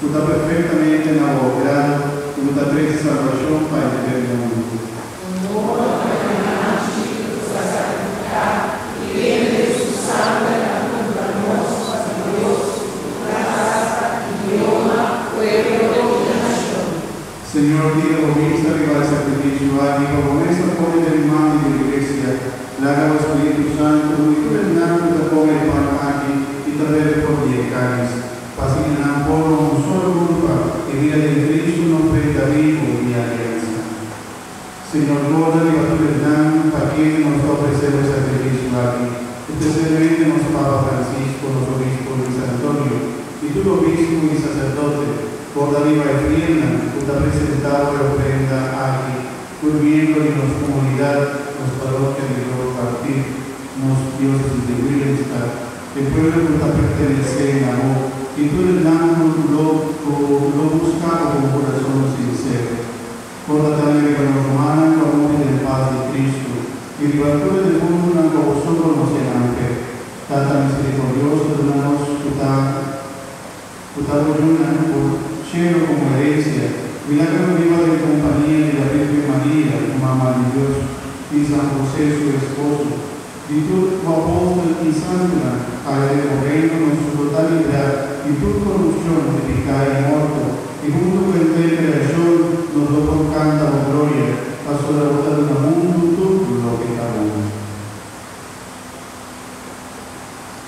Cu ta perfectamente na bo grado cu bo ta trece salvacion pa henter mundo. Un modo pa e manchi nos ta sacrifica y vende su sangre ta cumpra nos pa di Dios, raza, idioma, pueblo y nacion. Señor, tira bo bista riba e sacrificio aki pa bo mes ta pone den man di bo Iglesia. Laga bo Spiritu Santo uni tur esnan cu ta come e pan aki y ta bebe for di e caliz. Pasobra i nan por no un solo culpa, e bida den Cristo no prenta bibu di e aliansa. Señor gorda riba tur esnan, pakié cu nos ta ofrecé nos sacrificio aki, especialmente nos Papa Francisco, nos Obispo Luis Antonio, i tur obispo i sacerdote, gorda riba e frielnan cu ta presentá bo e ofrenda aki, tur miembro di nos comunidad, nos parokia di Groot Kwartier, nos diócesis di Willemstad, E pueblo cu ta pertenece na bo, y tur e blanco cu lo cu lo busca bo con curazon sincero. Conta tambe riba nos humannan cu a muri den paz di Cristo, y riba tur e defuntunan cu bo so conoce nan fe. Tata misericordioso, duna nos cu ta. ku ta lo duna por shelo komo herensia, milagro lo riba den kompania di la Virgen Maria, su Mama di Dios, i San José, su esposo, di tur ku apòstel i santunan haya den bo Reino, nos su por ta librá di tur korupshon di piká i morto, i huntu ku henter kreashon nos lo por kanta bo gloria, pasobra bo ta duna mundu tur loke ta bon.